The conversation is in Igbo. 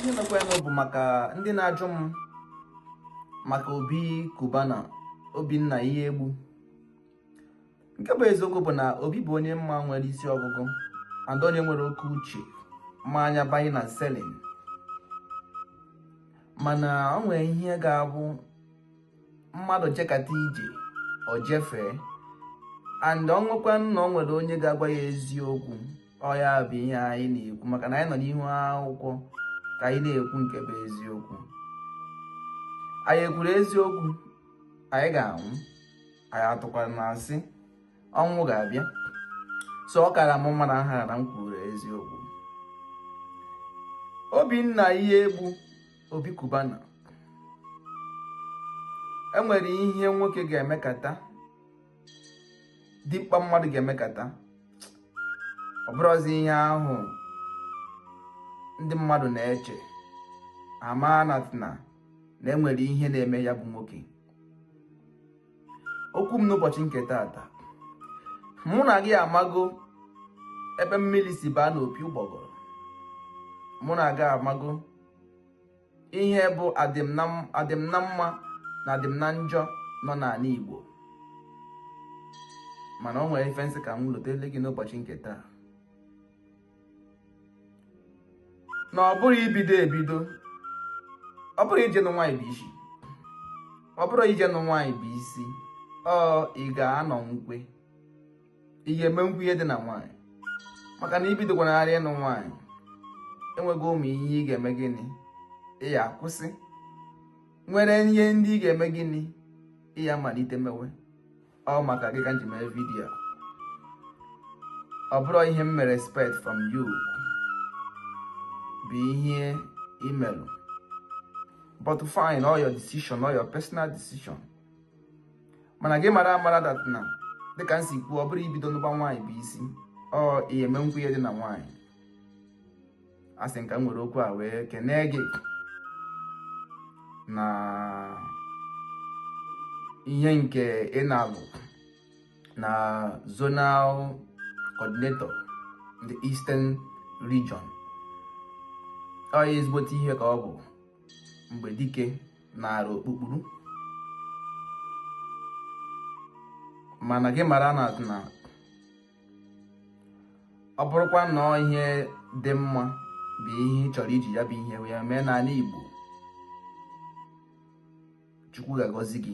ihe mekwanụ bụ maka ndị na-ajụ m maka Obi Cubana Obinna Iyiegbu nke bụ eziokwu bụ na obi bụ onye m ma nwere isi ọgụgụ and onye nwere oke uche ma anya buying and selling mana o nwere ihe ga-abụ mmadụ jekata ije o jefee and o nwekwa na o nwere onye ga-agwa ya eziokwu ọ ya bụ ihe anyị na-ekwu maka na anyị nọ n'ihu akwụkwọ ka anyị na-ekwu nke bụ eziokwu anyị ekwuru eziokwu anyị ga-anwụ anyị atụkwaranụ asị ọnwụ ga-abịa so ọ kara m mma na nhara na m kwuru eziokwu Obinna Iyiegbu Obi Cubana enwere ihe nwoke ga-emekata dimkpa mmadụ ga-emekata ọ bụrụzi ihe ahụ ndị mmadụ na-eche ama na na enwere ihe na-eme ya bụ nwoke okwu m n'ụbọchị nke taata mụ na gị amago ebe mmiri si baa n'opi ụgbọgọrọ mụ na gị amago ihe bụ adịm na m- adịm na mma na adịm na njọ nọ n'anị Igbo mana o nwere ife m sị ka m lotele gị n'ụbọchị nke taa na ọ bụrụ i bido ebido ọ bụrụ i je nụ nwaanyị bụ isi ọ bụrụ i je nụ nwaanyị bụ isi ọ ị ga-anọ nkwe ị ga-emekwu ihe dị na nwaanyị maka na i bidokwanarị ịnụ nwaanyị enwego ụmụ ihe ị ga-eme gịnị ị ya-akwụsị nwere ihe ndị ị ga-eme gịnị ị ya-amalite mewe ọ maka gị ka m ji mee vidiyo ọ bụrọ ihe m mere expect from you bụ ihe i melụ but fine ọ your decision ọ your personal decision mana gị mara amara that na dịka m si kwuo ọ bụrụ i bido nụba nwaanyị bụ isi ọ ị ya-emekwu ihe dị na nwaanyị a sị m ka m were okwu a wee kenee gị na ihe nke ị nalụ na zonal coordinator the eastern region ọ ya ezigbote ihe ka ọ bụ mgbe dike nara okpukpuru mana gị mara na na ọ bụrụkwa na ọ ihe dị mma bụ ihe ị chọrọ iji ya bụ ihe wee mee n'anị Igbo Chukwu ga-agọzi gị